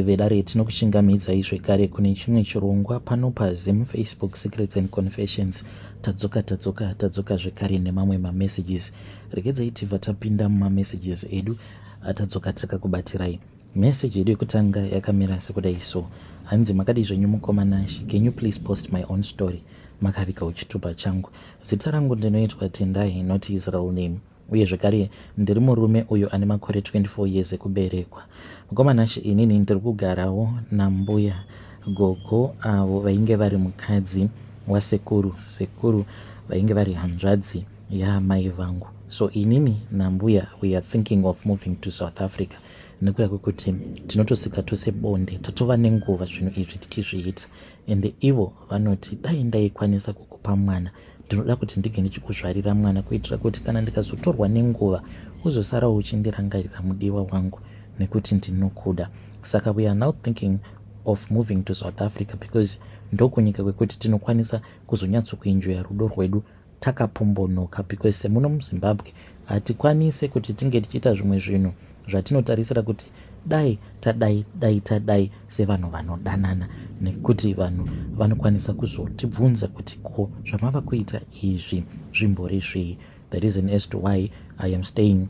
vedare tinokuchingamidzai zvekare kune chimwe chirongwa pano pazim facebook secrets and confessions tadzoka tadzoka tadzoka zvekare nemamwe mamessages regedzai tibva tapinda mumamessages edu atadzoka takakubatsirai message yedu yekutanga yakamira sekudai so hanzi makadii zvenyu mukoma nashi can you please post my own story makavika uchitupa changu zita rangu ndinoitwa tendai not israel name uye zvekare ndiri murume uyo ane makore 24 years ekuberekwa mukomanashe inini ndiri kugarawo nambuya gogo avo vainge vari mukadzi wasekuru sekuru vainge vari hanzvadzi yaamai vangu so inini nambuya weare thinking of moving to south africa nekuda kwekuti tinotosika tose bonde tatova nenguva zvinhu izvi tichizviita ende ivo vanoti dai ndaikwanisa kukupa mwana ndinoda kuti ndinge ndichikuzvarira mwana kuitira kuti kana ndikazotorwa nenguva uzosara uchindirangarira mudiwa wangu nekuti ndinokuda saka we are now thinking of moving to south africa because ndokunyika kwekuti tinokwanisa kuzonyatsokuenjoya rudo rwedu takapombonoka because semuno muzimbabwe hatikwanise kuti tinge tichiita zvimwe zvinhu zvatinotarisira kuti dai tadai dai tadai sevanhu vanodanana nekuti vanhu vanokwanisa kuzotibvunza kuti ko zvamava kuita izvi zvimbori zvii the reason as to why i am staying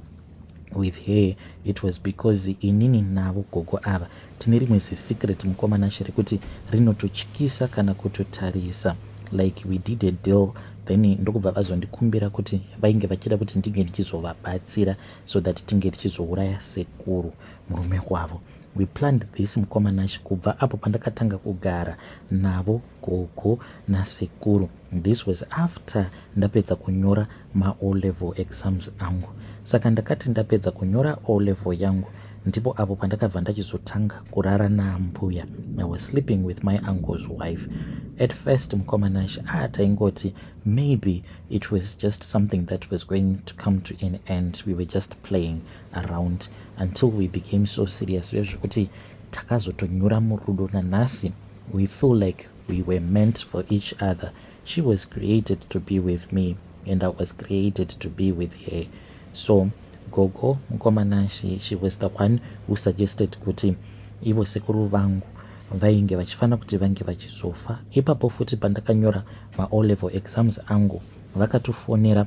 with her it was because inini navo gogo ava tine rimwe zisecret mukomanashe rekuti rinototyisa kana kutotarisa like we did a deal then ndokubva vazondikumbira kuti vainge vachida kuti ndinge ndichizovabatsira so that tinge tichizouraya sekuru murume wavo we planned this mukoma nash kubva apo pandakatanga kugara navo gogo nasekuru this was after ndapedza kunyora maO level exams angu saka ndakati ndapedza kunyora O level yangu ndipo apo pandakabva ndachizotanga kurara naambuya i was sleeping with my uncle's wife at first mukoma nash a ah, taingoti Maybe it was just something that was going to come to an end. We were just playing around until we became so serious. Zvekuti takazotonyura murudo nanhasi. We feel like we were meant for each other. She was created to be with me and I was created to be with her. So gogo mukomana she, she was the one who suggested kuti ivo sekuru vangu vainge vachifanira kuti vange vachizofa ipapo futi pandakanyora ma O level exams angu vakatofonera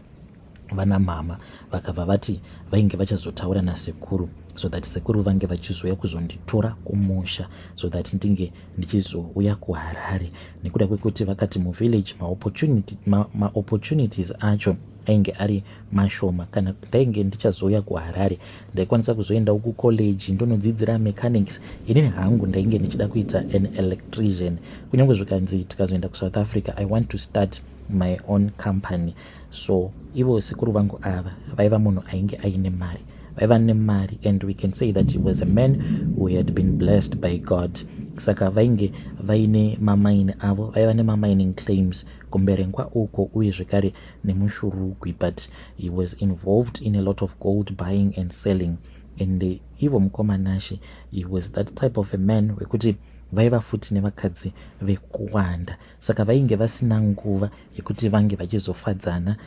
vana mama vakabva vati vainge vachazotaura nasekuru so that sekuru vange vachizouya kuzonditora kumusha so that ndinge ndichizouya kuharare nekuda kwekuti vakati muvillage maopportunities ma, ma acho ainge ari mashoma kana ndainge ndichazouya kuharare ndaikwanisa kuzoendawo kucollege ndonodzidzira mechanics inini hangu ndainge ndichida kuita an electrician kunyange zvikanzi tikazoenda kusouth africa i want to start my own company so ivo sekuru vangu ava vaiva munhu ainge aine mari vaiva nemari and we can say that he was a man who had been blessed by god saka vainge vaine mamaini avo vaiva nemamining claims kumberengwa uko uye zvekare nemushurugwi but he was involved in a lot of gold buying and selling and uh, ivo mukoma nashe he was that type of a man wekuti vaiva futi nevakadzi vekuwanda saka vainge vasina nguva yekuti vange vachizofadzana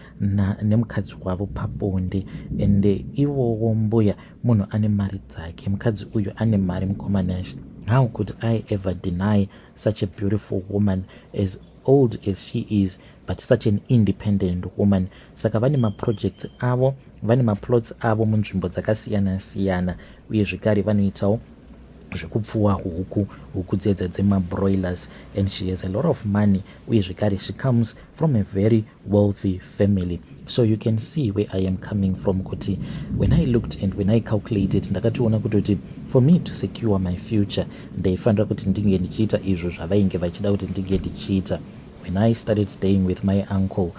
nemukadzi wavo pabonde and uh, ivowo mbuya munhu ane mari dzake mukadzi uyu ane mari mukoma nashe how could i ever deny such a beautiful woman as old as she is but such an independent woman saka vane maprojects avo vane maplots avo munzvimbo dzakasiyana siyana uye zvekare vanoitawo zvekupfuwa huku huku dzedza dzemabroilers and she has a lot of money uye zvekare she comes from a very wealthy family so you can see where i am coming from kuti when i looked and when i calculated ndakationa kuti kuti for me to secure my future ndaifanira kuti ndinge ndichiita izvo zvavainge vachida kuti ndinge ndichiita When I started staying with my uncle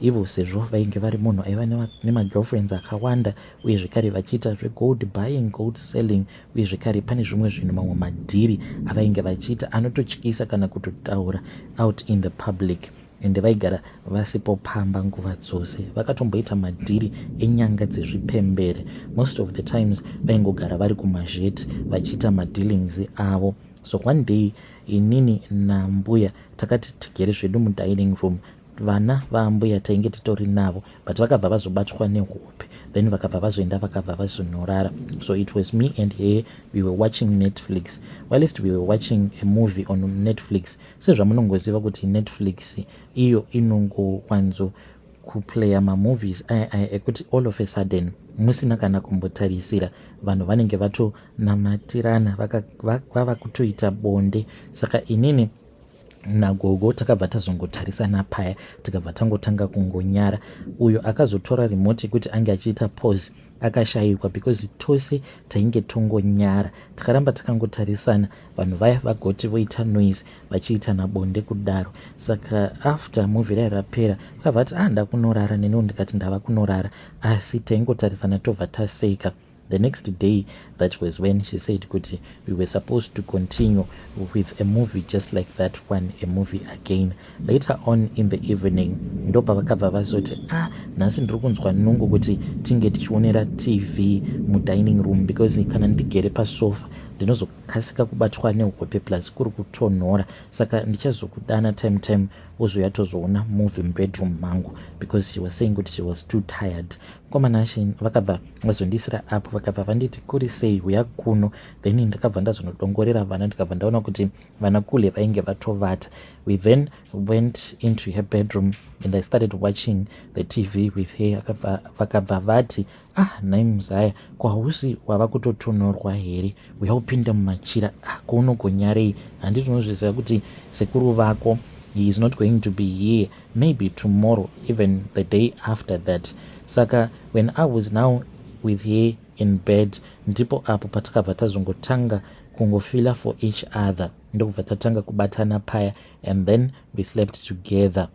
ivo sezvo vainge vari munhu aiva nemagirlfriends akawanda uye zvekare vachiita zvegold buying gold selling uye zvekare pane zvimwe zvinhu mamwe madhiri avainge vachiita anototyisa kana kutotaura out in the public ende vaigara vasipo pamba nguva dzose vakatomboita madhiri enyanga dzezvipembere most of the times vaingogara vari kumazheti vachiita madealings avo so one day inini nambuya takati tigere zvedu mudining room vana vaambuya tainge titori navo but vakabva vazobatwa nehope then vakabva vazoenda vakabva vazonorara so it was me and her we were watching netflix whilst we were watching a movie on netflix sezvamunongoziva kuti netflix iyo inongowanzo kuplayer mamovies aya aya ekuti all of a sudden musina kana kumbotarisira vanhu vanenge vatonamattirana vava kutoita bonde saka inini nagogo takabva tazongotarisana paya tikabva tangotanga kungonyara uyo akazotora remote kuti ange achiita pose akashayikwa because tose tainge tongonyara takaramba takangotarisana vanhu vaya vagoti voita noise vachiitana bonde kudaro saka after muvi rai rapera vakabva vati ah ndakunorara neniwo ndikati ndava kunorara asi taingotarisana tobva taseka the next day that was when she said kuti we were supposed to continue with a movie just like that one a movie again later on in the evening ndo pavakabva vazoti a ah, nhasi ndiri kunzwa nungu kuti tinge tichionera tv mudining room because kana ndigere pasofa ndinozokasika kubatwa nehope plus kuri kutonhora saka ndichazokudana time time wozouya tozoona movie mubedroom mangu because she was saying kuti she was too tired komanashe vakabva vazondiisira apo vakabva vanditi kuri sei huya kuno then ndakabva ndazonodongorera vana ndikabva ndaona kuti vana kule vainge vatovata we then went into her bedroom and i started watching the tv with her vakabva vati ah nhai muzaya ko hausi wava kutotonhorwa here uya upinda mumachira ah ko unogonyarei handiti unozviziva kuti sekuru vako he is not going to be here maybe tomorrow even the day after that saka when i was now with her in bed ndipo apo patakabva tazongotanga kungofila for each other ndokubva tatanga kubatana paya and then we slept together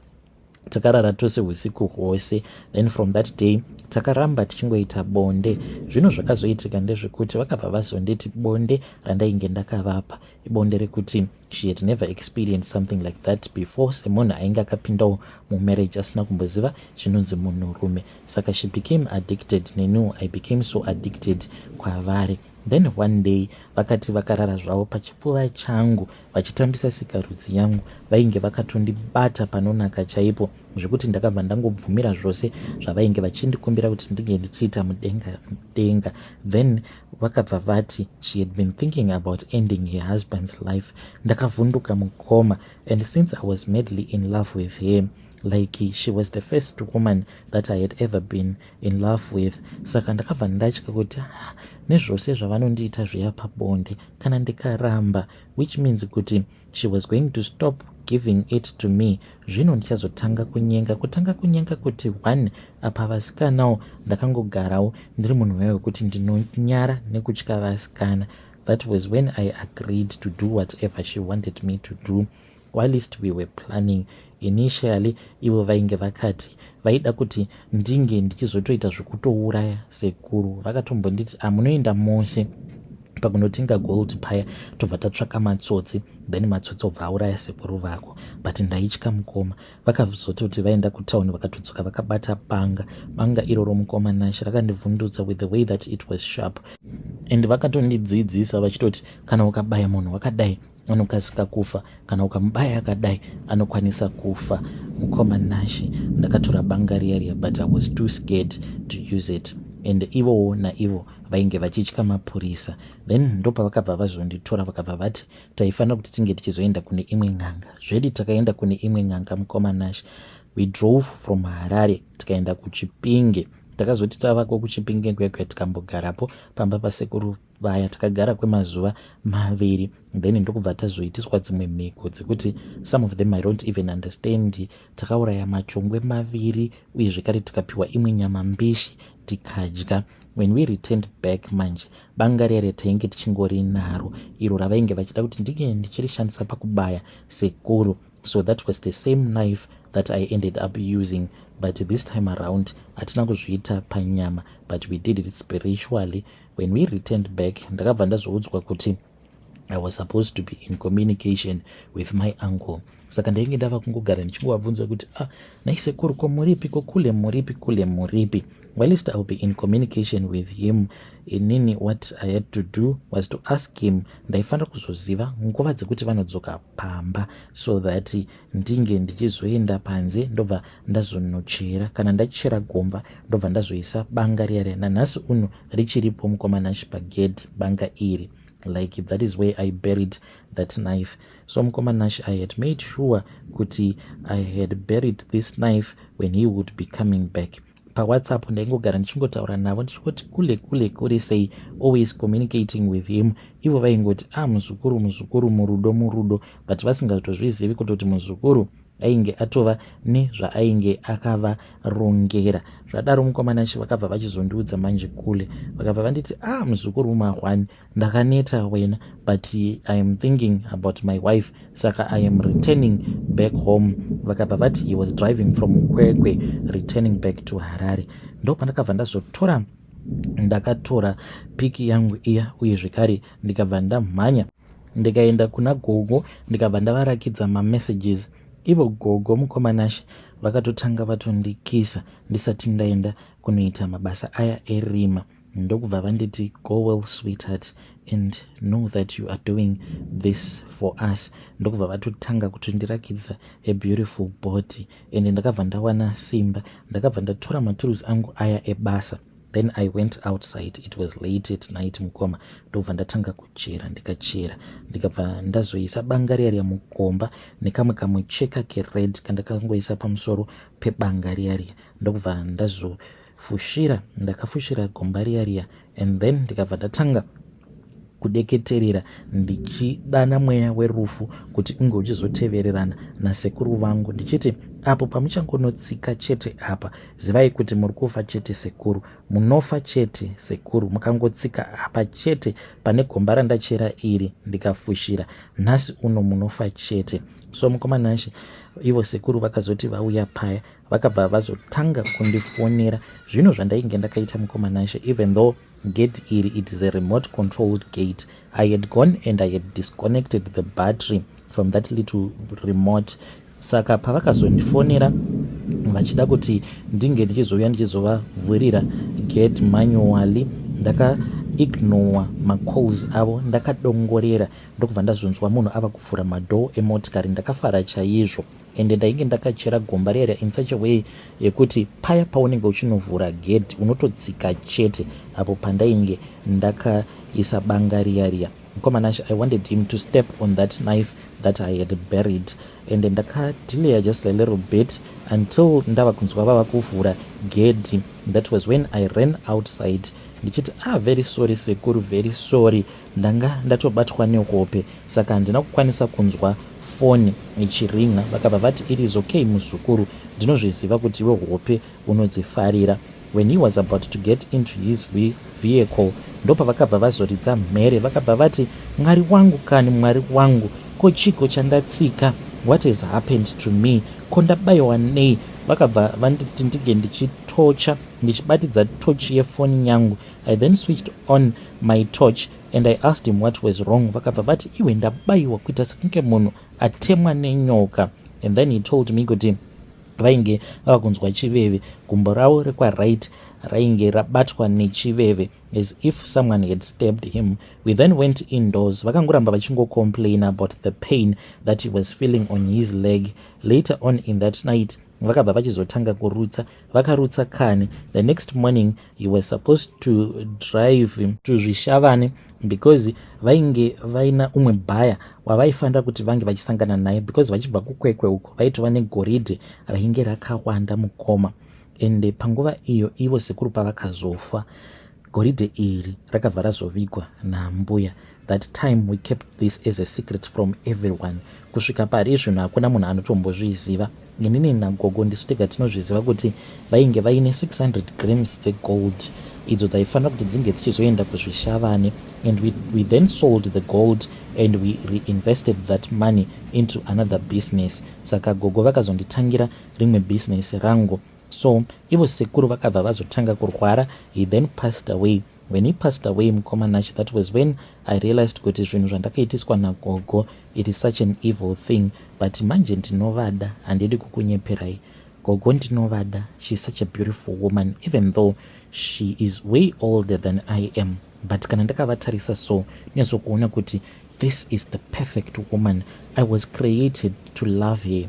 takarara tose usiku hwose then from that day takaramba tichingoita bonde zvino zvakazoitika ndezvekuti vakabva vazonditi bonde randainge ndakavapa ibonde rekuti she had never experienced something like that before semunhu ainge akapindawo mumarriage asina kumboziva chinonzi munhurume saka she became addicted nenu i became so addicted kwavari Then one day vakati vakarara zvavo pachipfuva changu vachitambisa sikarudzi yangu vainge vakatondibata panonaka chaipo zvekuti ndakabva ndangobvumira zvose zvavainge vachindikumbira kuti ndinge ndichiita mudenga mudenga then vakabva vati she had been thinking about ending her husband's life ndakavhunduka mukoma and since i was madly in love with him like she was the first woman that i had ever been in love with saka ndakabva ndatya kuti ah, nezvose zvavanondiita zviya pabonde kana ndikaramba which means kuti she was going to stop giving it to me zvino ndichazotanga kunyenga kutanga kunyenga kuti one apa vasikanawo ndakangogarawo ndiri munhu waye wekuti ndinonyara nekutya vasikana that was when i agreed to do whatever she wanted me to do Whilst we were planning initially ivo vainge vakati vaida kuti ndinge ndichizotoita zvekutouraya sekuru vakatombonditi amunoenda ah, mose pakunotenga gold paya tobva tatsvaka matsotsi then matsotsi obva auraya sekuru vako but ndaitya mukoma vakazototi vaenda kutown vakatodzoka vakabata banga banga iroro mukoma nashe rakandivhundutsa with the way that it was sharp and vakatondidzidzisa vachitoti kana ukabaya munhu wakadai anokasika kufa kana ukamubaya akadai anokwanisa kufa mukoma nashe ndakatora banga riya riya but i was too scared to use it and ivowo naivo vainge vachitya mapurisa then ndopavakabva vazonditora vakabva vati taifanira kuti tinge tichizoenda kune imwe n'anga zvedi takaenda kune imwe n'anga mukoma nashe we drove from harare tikaenda kuchipinge takazoti tavako kuchipinge kwekwe tikambogarapo pamba pasekuru vaya takagara kwemazuva maviri then ndokubva tazoitiswa dzimwe mhiko dzekuti some of them i don't even understand takauraya machongwe maviri uye zvekare tikapiwa imwe nyama mbishi tikadya when we returned back manje banga riya ratainge tichingorinaro iro ravainge vachida kuti ndinge ndichirishandisa pakubaya sekuru so that was the same knife that i ended up using but this time around hatina kuzviita panyama but we did it spiritually when we returned back ndakabva ndazoudzwa kuti i was supposed to be in communication with my uncle saka ndainge ndava kungogara ndichingovabvunza kuti a ah, naisekuru ko muripi ko kule muripi kule muripi whilst iwill be in communication with him inini what i had to do was to ask him ndaifanira kuzoziva nguva dzekuti vanodzoka pamba so that ndinge ndichizoenda panze ndobva ndazonochera kana ndachera gomba ndobva ndazoisa banga riya riya nanhasi uno richiripo mukoma nashi pagedhi banga iri like that is where i buried that knife so mukoma nashi i had made sure kuti i had buried this knife when he would be coming back pawhatsapp ndaingogara ndichingotaura navo ndichingoti kule kule kule sei always communicating with him ivo vaingoti a ah, muzukuru muzukuru murudo murudo but vasingatozvizivi kutoti muzukuru ainge atova nezvaainge akavarongera zvadaro mukomana shi vakabva vachizondiudza manje kule vakabva vanditi a ah, muzukuru mumahwani ndakaneta wena but i am thinking about my wife saka i am returning back home vakabva vati he was driving from kwekwe returning back to harare ndopandakabva ndazotora ndakatora piki yangu iya uye zvekare ndikabva ndamhanya ndikaenda kuna gogo ndikabva ndavarakidza mamessages ivo gogo mukomanashe vakatotanga vatondikisa ndisati ndaenda kunoita mabasa aya erima e ndokubva vanditi go well sweetheart and know that you are doing this for us ndokubva vatotanga kutondirakidza a beautiful body and ndakabva ndawana simba ndakabva ndatora maturusi angu aya ebasa then i went outside it was late at night mukoma ndokubva ndatanga kuchera ndikachera ndikabva ndazoisa banga riya riya mukomba nekamwe kamucheka kered kandakangoisa pamusoro pebanga riya riya ndokubva ndazo so fushira ndakafushira gomba riya riya and then ndikabva ndatanga kudeketerera ndichidana mweya werufu kuti unge uchizotevererana nasekuru vangu ndichiti apo pamuchangonotsika chete apa zivai kuti muri kufa chete sekuru munofa chete sekuru mukangotsika apa chete pane gomba randachera iri ndikafushira nhasi uno munofa chete so mukomana nashe ivo sekuru vakazoti vauya paya vakabva vazotanga kundifonera zvino zvandainge ndakaita mukoma nashe even though gate iri it is a remote controlled gate i had gone and i had disconnected the battery from that little remote saka pavakazondifonera vachida kuti ndinge ndichizouya ndichizovavhurira gate manually ndaka ignore macalls avo ndakadongorera ndokubva ndazonzwa munhu ava kuvhura madoor emotikari ndakafara chaizvo ende ndainge ndakachera gomba riya riya in such a way yekuti paya paunenge uchinovhura gedhi unototsika chete apo pandainge ndakaisa banga riya riya mukomana i wanted him to step on that knife that i had buried and ndakadileya just a little bit until ndava kunzwa vava kuvhura gedhi that was when i ran outside ndichiti ah very sorry sekuru very sorry Ndanga ndatobatwa nehope saka handina kukwanisa kunzwa foni ichirinha vakabva vati it is okay muzukuru ndinozviziva kuti iwe hope unodzifarira when he was about to get into his vehicle ndopavakabva vazoridza mhere vakabva vati mwari wangu kani mwari wangu ko chiko chandatsika what has happened to me ko ndabayiwa nei vakabva vanditi ndinge ndichitocha ndichibatidza tochi yefoni yangu I then switched on my torch and I asked him what was wrong vakabva vati iwe ndabaiwa kuita sekunge munhu atemwa nenyoka and then he told me kuti vainge vava kunzwa chiveve gumbo ravo rekwaright rainge rabatwa nechiveve as if someone had stabbed him we then went indoors vakangoramba vachingocomplain about the pain that he was feeling on his leg later on in that night vakabva vachizotanga kurutsa vakarutsa kani the next morning you were supposed to drive to zvishavane because vainge vaina umwe bhaya wavaifanira kuti vange vachisangana naye because vachibva kukwekwe uko vaitova negoridhe rainge rakawanda mukoma ende panguva iyo ivo sekuru pavakazofa Goridhe iri rakabva razovigwa naambuya. That time we kept this as a secret from everyone. Kusvika pari izvino hakuna munhu anotombozviziva. Inini nagogo ndisu tega tinozviziva kuti vainge vaine 600 grams dzegold idzo dzaifanira kuti dzinge dzichizoenda kuzvishavane and we, we then sold the gold and we reinvested that money into another business saka gogo vakazonditangira rimwe business rangu so ivo sekuru vakabva vazotanga kurwara he then passed away when he passed away mukoma nash that was when i realized kuti zvinhu zvandakaitiswa nagogo it is such an evil thing but manje ndinovada handidi kukunyeperai gogo ndinovada she is such a beautiful woman even though she is way older than i am but kana ndakavatarisa so nezokuona kuti this is the perfect woman i was created to love her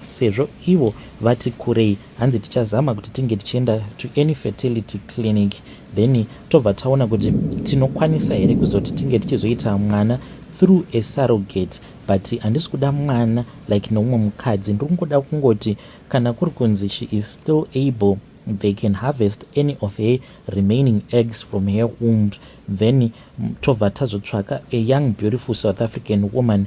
Sezvo ivo vati kurei hanzi tichazama kuti tinge tichienda to any fertility clinic then tobva taona kuti tinokwanisa here kuzoti tinge tichizoita mwana through a surrogate but handisi kuda mwana like noumwe mukadzi ndiri kungoda kungoti kana kuri kunzi she is still able they can harvest any of her remaining eggs from her womb then tobva tazotsvaka a young beautiful south african woman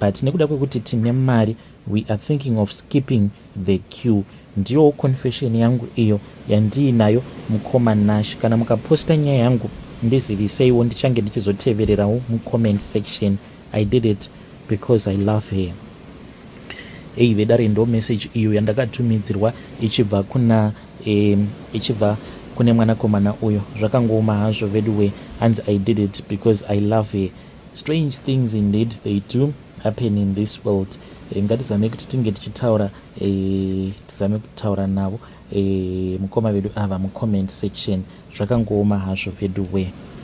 but nekuda kwekuti tine mari we are thinking of skipping the queue ndiyowo confession yangu iyo yandiinayo mukoma nash kana mukaposta nyaya yangu ndiziviseiwo ndichange ndichizotevererawo mucomment section i did it because i love her ei vedare ndo message iyo yandakatumidzirwa ichibva kuna eh, ichibva kune mwanakomana uyo zvakangooma hazvo veduwe hanzi i did it because i love her Strange things indeed they do happen in this world. Eh, ngatizame kuti tinge tichitaura eh, tizame kutaura navo eh, mukoma vedu ava mucomment section zvakangooma hazvo vedu wee